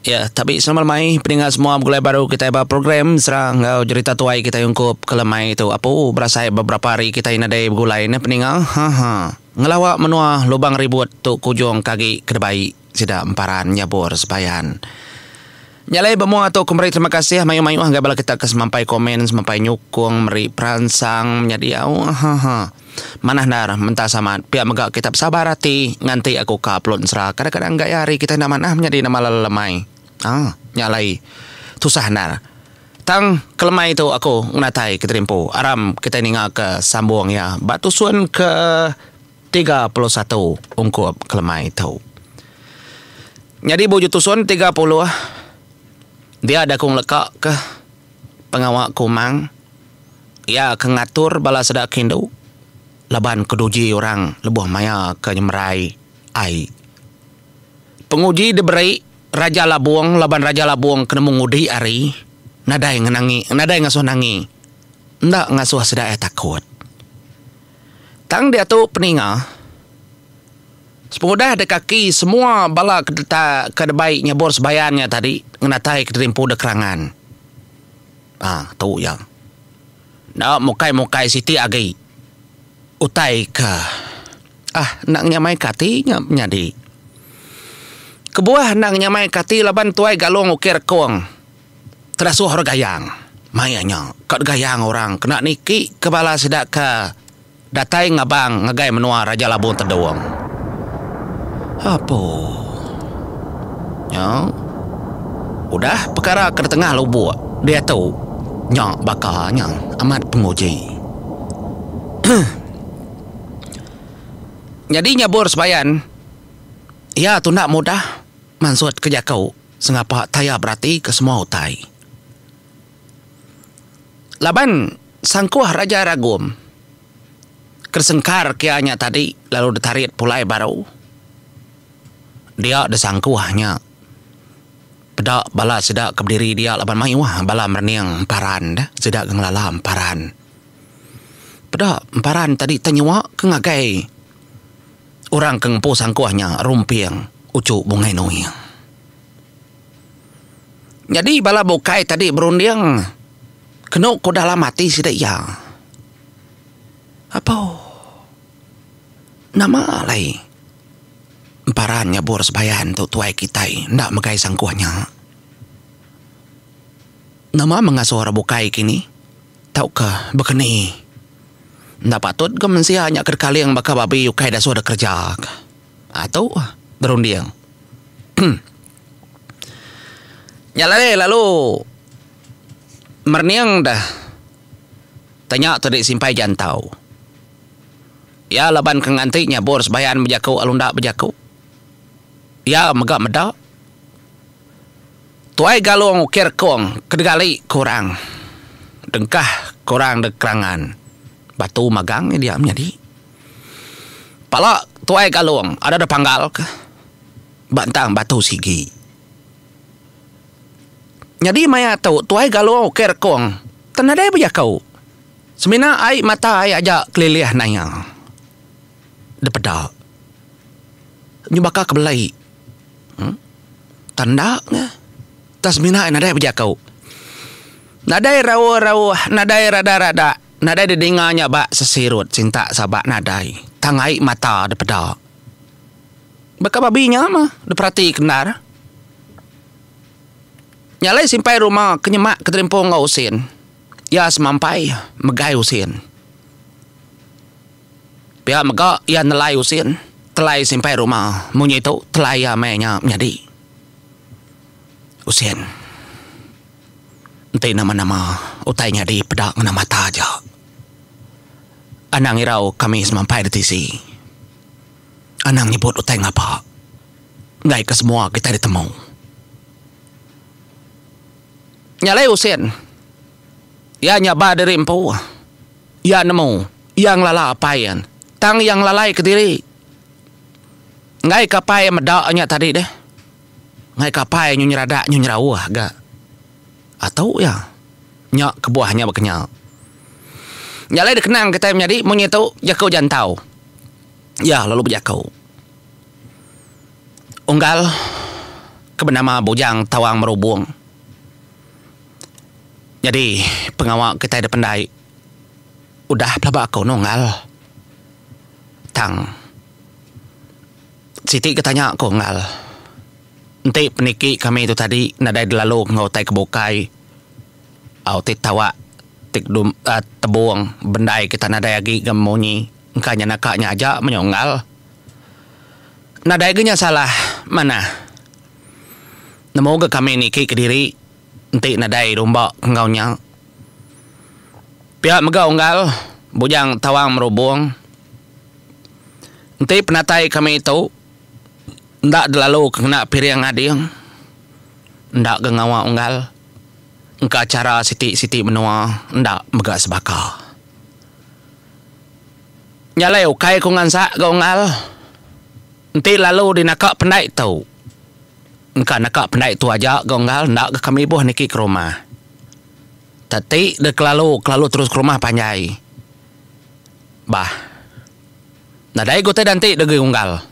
Ya, tapi selamat mai peninga semua begulai baru kitai ba program serang enggau jerita tuai kitai ungkup ke lemai tu apu berasai beberapa hari kitai nadai begulai neh peninga haha ngelawa menua lubang ribut tu kujung ke agi ke debai sida emparan nyabur sebayan nya alai ba mua tu ku meri terima kasih mayuh mayuh ngagai bala kita ke semampai komen semampai nyukung meri peransang menyadi au haha. Manah endar, mentas amat. Pia mega kita besabar ati nganti aku ka Pelun Sera. Kadang-kadang gaya hari kita enda manah menyadi nama lelemai. Haa, nya alai tusah endar. Tang, kelemai tu aku ngenatai ke terimpu aram kitai ningaka sambung iya ba tusun ke tiga puluh satu ungkup kelemai tu. Nyadi bu uju tusun tiga puluh, dia da ku ngelekakah pengawa ku Mang? Iya ke ngatur bala seda ke indu laban ke duji orang lebuh maya ke nyemerai ai. Penguji diberi Raja Labong laban Raja Labong ke nemu ngudi ari nadai ngenangi nadai ngasuh nangi enda ngasuh sida iya takut. Tang diatu peninga sepengudah dek kaki semua bala ke deka ke debei nyabur sebayan iya tadi ngenataika diri empu dek kerangan. Ah tu iya. Enda mukai-mukai siti agi utai ke ah enda nyamaika ati nya nyadi. Kebuah enda nyamaika ati laban Tuai Galong Uki Rekong kedasuh orang Gayang. Maya nya ka Gayang orang kena niki ke bala sida ke Datai ngabang ngagai menua Raja Labong Tedong. Apo nya udah pekara ke ditengah lubuk diatu nya baka nya amat penguji. Nyadi nyabur sebayan iya tu enda mudah mansutka jaku sengapa taya beratika semua utai. Laban sangkuh Raja Ragum ke sengkar kia nya tadi lalu ditarit pulai baru, dia disangkuh nya peda bala sida ke bediri dia laban mayuh bala merening emparan deh sida ke ngelala emparan. Peda emparan tadi tau nyua ke ngagai orang ke ngempu sangkuh nya Rumping Uchu Bungai Nuing. Nyadi bala bukai tadi berunding kenu ku dalam ati sida iya. Apo nama alai emparan nyabur sembahyang tu tuai kitai enda megai sangkuh nya. Nama mengasuh orang bukai kini tauka bekeni enda patut ke mensia nya ke dekaling baka babi ukai dasuh dikereja ka. Haa tu berunding. Nya alai lalu merening deh tanya tu deh simpai jantau. Iya laban ke nganti nyabur sebayan bejaku lalu enda bejaku. Iya mega meda. Tuai Galong ukir kong kedegali ke orang dengkah ke orang dek kerangan batu magang iya diak menyadi. Pala Tuai Galong ada dipanggalka ba entang batu sigi. Nyadi maya tu Tuai Galong ukai rekong tang nadai bejaku. Semina ai mata ai aja kelilih naya dipeda nyu baka ke belai uhh tang enda nya tang semina ai nadai bejaku. Nadai rauh-rauh nadai radah-radah. Nadai didinga nya ba sesirut sintak sabak nadai tang ai mata dipeda. Baka babi nya mah diperatika endar. Nya alai simpai rumah ke nyemak ke terimpung enggau usin. Iya semampai megai usin. Pia mega iya nelai usin, telai simpai rumah. Mung nyitu telai iya meh nya menyadi usin. Enti nama-nama utai nyadi peda ngena mata aja. Anang irau kami semampai di tisi. Anang nyebut utai ngapa enggaika semua kitai ditemu. Nya alai Husin, iya nyabal diri empu. Iya nemu, iya ngelala apai iya. Tang iya ngelalai kediri enggaika apai iya meda nya tadi deh. Ngaika apai nyu nyeradak nyu nyerauh ga atu iya. Nya kebuah nya ba kenyau. Nya alai dikenang kitai menyadi munyi tu jaku jantau. Iya lalu bejaku. Unggal ke benama Bujang Tawang Merubong nyadi pengawa kitai dipendai udah pelaba aku ne unggal tang. Siti ke tanya aku enggau enti peniki kami tu tadi nadai dilalu enggau utai ke bukai au ti tawak ti kedum tebung bendai kita nadai agi ga munyi engka nya naka nya aja menyau enggau nadai ga nya salah manah nemu ga kami niki kediri enti nadai rumba enggau nya pia mega enggau bujang tawang merubung. Enti penatai kami tu enda dilalu ke ngena piring ading enda ga ngawa unggal engka chara siti-siti menua enda mega sebaka. Nya alai ukai ku ngansak ga unggal enti lalu dinaka pendai tu engka naka pendai tu aja ga unggal enda ga kami ibuh niki ke rumah. Teti deh kelalu kelalu terus ke rumah panjai. Bah. Nadai gutai danti degeri unggal.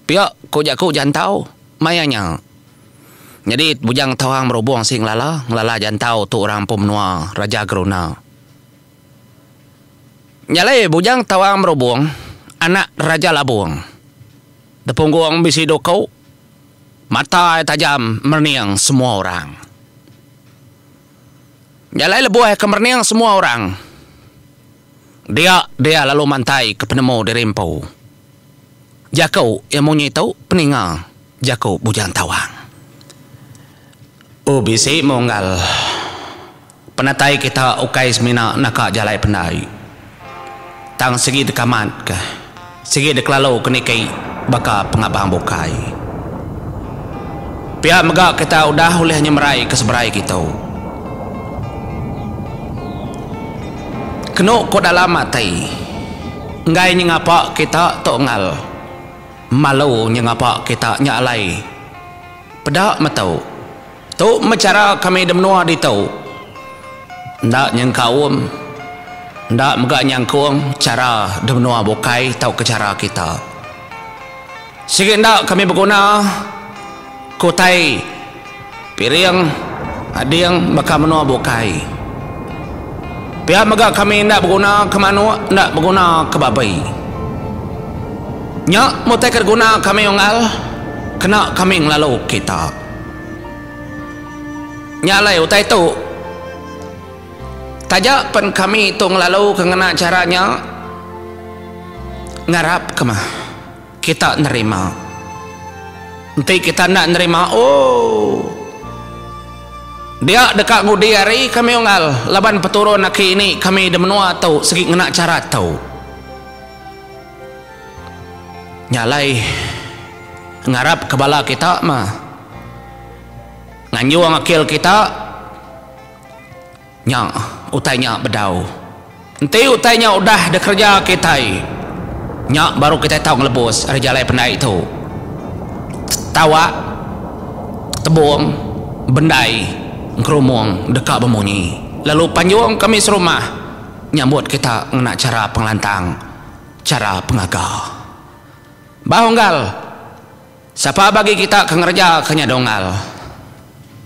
Pia ko jaku jantau maya nya. Nyadi Bujang Tawang Merubong si ngelala, ngelala jantau tu orang empu menua Raja Geruna. Nya alai Bujang Tawang Merubong anak Raja Labong. Depunggung bisi duku, mata iya tajam merening semua orang. Jalai lebuh ke merening semua orang dia dia lalu mantai ke penemu diri empu jaku iya munyi tu peninga jaku Bujang Tawang. Oh bisi munggal penatai kita ukai semina naka jalai pendai. Tang sigi deka mat ke. Sigi dek lalu ke niki baka pengabang bukai. Pia mega kita udah ulih nyemerai ke seberai gitu. Kenu ko dalam ati. Enggai nyengapa kita tok engal. Malu nyengapa kita nya alai. Peda metu. Tu meh chara kami di menua ditu. Enda nyengkaum, enda mega nyangkung chara di menua bukai tauka chara kita. Sigi enda kami beguna ke utai piring ading baka menua bukai. Pia mega kami enda beguna ke manuk, enda beguna ke babi. Nya meh utai ke diguna kami unggal kena kami ngelalu kita. Nya alai utai tu, taja pen kami tu ngelalu ke ngena chara nya, ngarap ke mah kita nerima. Enti kita enda nerima, ooh. Dia deka ngudi ari kami unggal laban peturun aki ini kami di menua tu sigi ngena chara tu. Nya alai ngarapka bala kita mah nganjung akil kita nya utai nya bedau. Enti utai nya udah dikereja kitai nya baru kitai tau ngelebus ari jalai pendai tu. Tawak tebung bendai ngerumung deka bemunyi lalu panjung kami serumah nyambut kita ngena chara pengelantang. chara pengaga. Ba unggal, sapa bagi kita ke ngereja ke nya dunggal?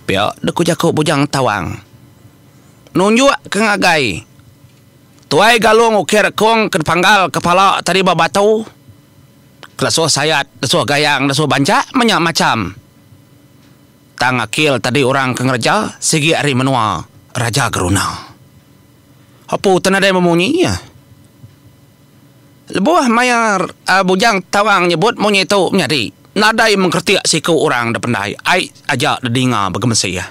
Pia deh ku jaku Bujang Tawang. Nunjuk ke ngagai, Tuai Galung ukir kung ke dipanggal kepala tadi ba batu, kelesuh sayat, lesuh gayang, lesuh banjak menya macham. Tang akil tadi orang ke ngereja sigi ari menua Raja Geruna. Hopu te nadai memunyi iya. Lebuh maya Bujang Tawang nyebut munyi tu menyadi, nadai mengkeretik siku orang da pendai ai aja dedinga begemesi iya.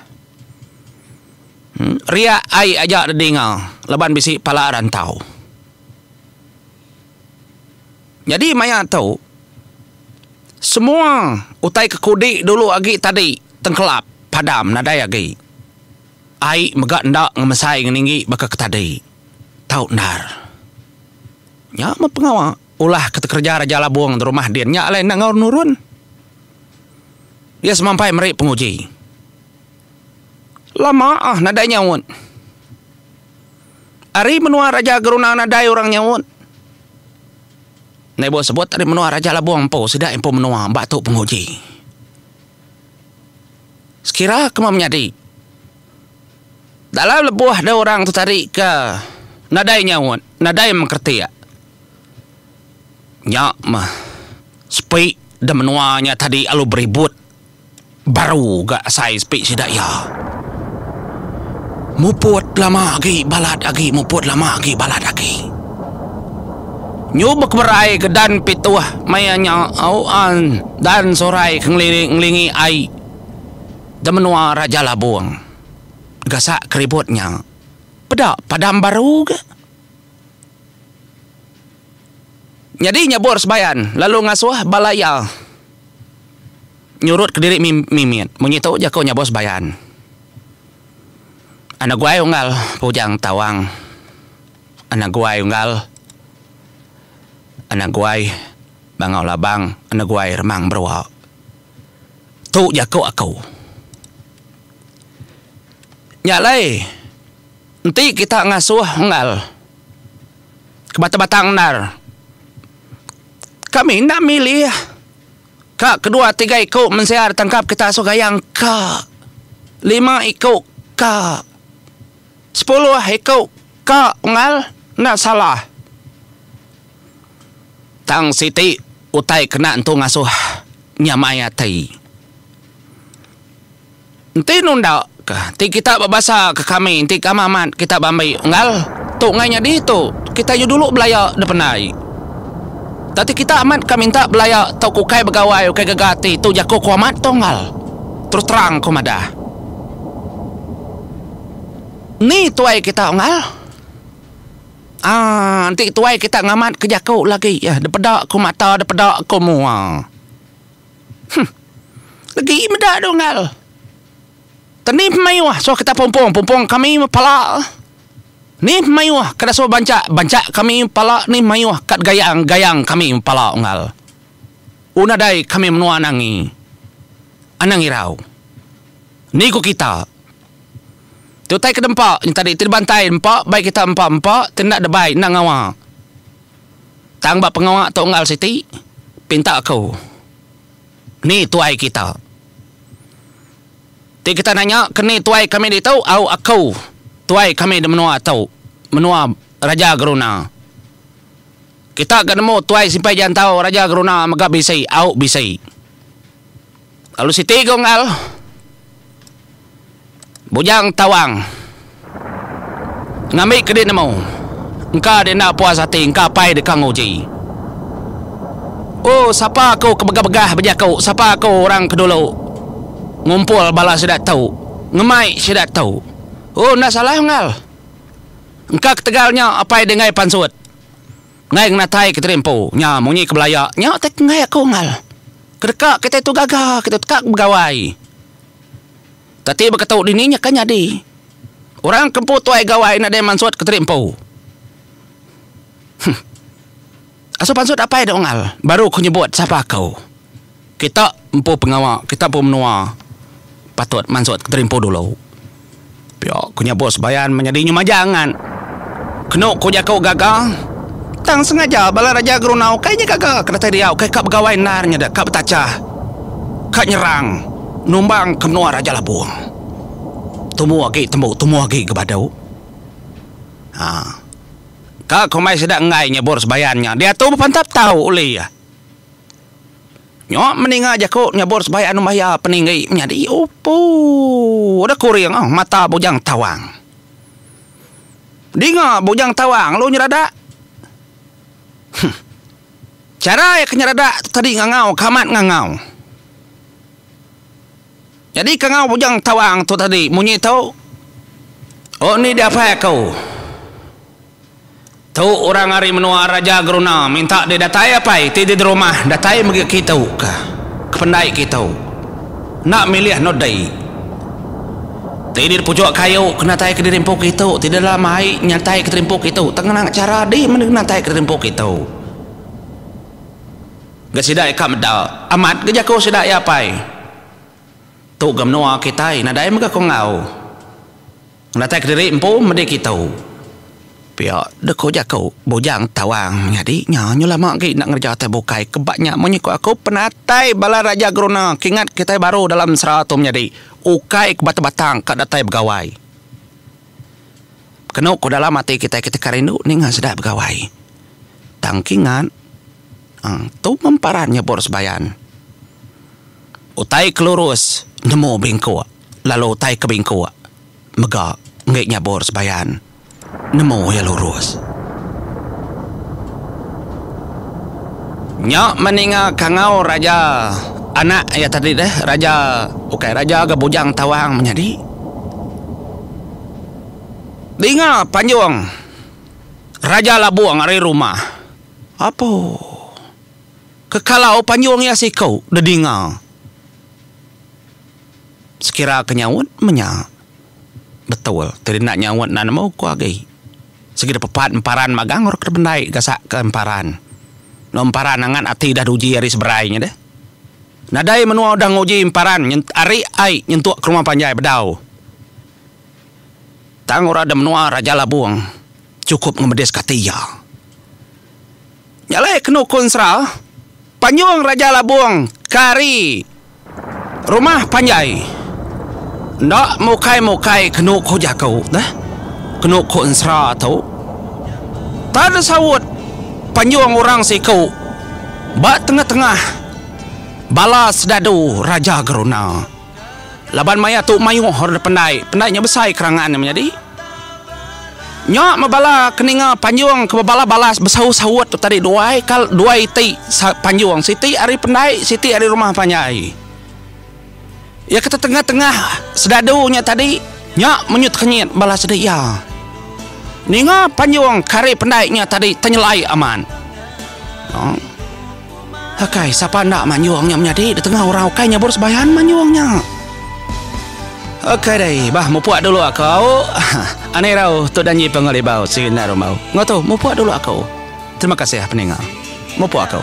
Riak ai aja dedinga laban bisi pala rantau. Nyadi maya tu, semua utai ke kudi dulu agi tadi tengkelap padam nadai agi. Ai mega enda ngemesai ngeninggi baka ke tadi. Tau endar. Nya meh pengawa ulah ke tekereja Raja Labong di rumah din nya alai enda enggau nurun. Dia semampai meri penguji. Lama ah nadai nyaut. Ari menua Raja Geruna nadai orang nyaut. Naibo sebut ari menua Raja Labong empu sida empu menua ba tu penguji. Sekira kema menyadi, dalam lebuh dau orang tetari ke nadai nyaut, nadai mengkretik, nya meh sepi da menua nya tadi alu beribut baru ga asai sepi sida iya. Muput lama agi balat agi muput lama agi balat agi. Nyubek berai ke dan pituh maya nya au an dan sorai ke ngelingi ai da menua Raja Labong gasak ke ribut nya peda padam baru ga nyadi nyabur sebayan lalu ngasuh bala iya nyurut ke diri mimit mung nyi tu jaku nyabur sebayan. Anu guai unggal Pujang Tawang. Anak guai unggal Anak guai bangau labang Anak guai remang berua Tu jaku aku Nya alai Enti kita ngasuh unggal Ke batang batang endar Kami enda milih Ka kedua tiga iku mensia da tangkap kita asuh gayang ka Lima iku ka Sepuluh iku ka unggal enda salah. Tang siti utai kena entu ngasuh nyamai ati. Enti nunda ka ti kita ba basa ka kami enti kami amat kita ba ambi unggal tu ngai nyadi tu kita yu dulu belaya dependai. Tang ti kita amat ka minta belaya tau ka ukai begawai ukai gaga ati tu jaku ku amat tu unggal. Terus terang ku madah. Ni tuai kita unggal? Aaa enti tuai kita ngamat ke jaku lagi eh depeda ku mata depeda ku mua. Huh legi meda deh unggal. Teni pemaioh suah kita pumpung pumpung kami meh pala. Ni pemaioh ke dasuh banca banca kami meh pala ni maioh kad gayang gayang kami meh pala unggal. U nadai kami menua anang ngi anang irau. Ni ku kita. Tu utai ke dempa nyentadi ti dibantai empa bai kita empa empa ti enda debai enda ngawa. Tang ba pengawa tu enggal siti pinta aku ni tuai kita. Ti kita nanya ke ni tuai kami ditu au aku tuai kami di menua tu menua Raja Geruna. Kita ga nemu tuai simpai jantau Raja Geruna mega bisi au bisi. Lalu siti ga unggal Bujang Tawang ngambi ke dinemu engka dienda puas ati engka apai deka nguji. O sapa aku ke begah-begah bejaku sapa aku orang ke dulu ngumpul bala sida tu ngemai sida tu. O enda salah unggal. Engka ketegal nya apai denggai pansut enggai ngenatai ke tiri empu nya munyi ke belaya nya tai ke enggai aku unggal. Kedeka kitai tu gaga, kitai tu deka begawai. Kati baka tu dini nyaka nyadi. Orang ke empu tuai gawai nadai mansut ke tadi empu. Huh. Asu pansut apai da Unggal baru ku nyebut sapa aku. Kita empu pengawa, kita empu menua patut mansut ke tadi empu dulu. Pia ku nya bos Bayan menyadi nyu maja ngan kenu ku jaku gaga tang sengaja bala raja Gerunau kai nya gaga ke datai dia ukai ka begawai endar nya deka betacha ka nyerang numbang ke menua Raja Labong. Tumu agi tembu tumu agi ke badu. Haa ka komai sida enggai nya bos Bayan nya diatu bepantap tau ulih iya. Nyok meninga jaku nyebut sebaik anu maya peninggi menyadi upu deh kuring oh mata Bujang Tawang. Dinga Bujang Tawang lu nyerada. Huh. Chara iya ke nyerada tu tadi ngangau ke amat ngangau. Nyadi ke ngau Bujang Tawang tu tadi munyi tu. Oni diapai aku. Tu orang ari menua Raja Geruna minta deh datai apai ti di derumah datai megi kitu ka kependai kitu enda milih endur dei ti di puchok kayu ke natai kediri empu kitu ti di dalam ai nyatai kediri empu kitu tengenang chara di natai kediri empu kitu ga sida ika meda amat ga jaku sida iya apai tu ga menua kitai nadai mega ko enggau. Ngenatai kediri empu medi kitu. Pia deh ku jaku Bujang Tawang nyadi nya nyu lama agi enda ngereja tai bukai ke ba nya munyi ku aku penatai bala raja geruna kingat kitai baru dalam mesra tu menyadi ukai ke batang-batang ka datai begawai kenu ku dalam ati kitai kitai ka rindu ninga sida begawai tang kingat uhh tu meh paran nyebur sebayan utai ke lurus nemu bingkuk. Lalu utai ke bingkuk mega enggai nyabur sebayan nemu iya lurus. Nya meninga kangau raja anak iya tadi deh raja ukai raja ga bujang tawang menyadi. Dinga panjung raja labung ari rumah. Apo ke kalau panjung iya siku dedinga. Sekira ke nyaut menya. Betul ti enda nyaut enda nemu ko agi. Sigi pepat emparan magang orang ke dipendai gasak ke emparan. Eno emparan angat ati dah uji ari seberai nya deh. Nadai menua udah nguji emparan ari ai nyentuk ke rumah panjai bedau. Tang orang da menua Raja Labong chukup ngemedis ka ati iya. Nya alai kenu ku ensera, Panjung Raja Labung kari rumah panjai. Enda mukai-mukai kenu ku jaku neh, kenu ku ensera tu. Tan saut panjung orang siku ba tengah-tengah bala sedadu Raja Geruna. Laban maya tu mayuh orang dipendai, pendai nya besai kerangan nya menyadi. Nya meh bala ke ninga panjung ke bebala balas besaut-saut tu tadi duai ka duai iti panjung siti ari pendai siti ari rumah panjai. Iya ke tetengah-tengah sedadu nya tadi nya menyut-kenyit bala sida iya. Ninga panjung ke ari pendai nya tadi tenyelai amat. Aaa. Hakai, sapa enda manyung nya menyadi ditengah orang ukai nyabur sebayan manyung nya. Hakai dai, bah mupuk dulu aku. Ani rau tu danyi pengelibau sigi enda rumbau. Ngotu, mupuk dulu aku. Terima kasih peninga. Mupuk aku.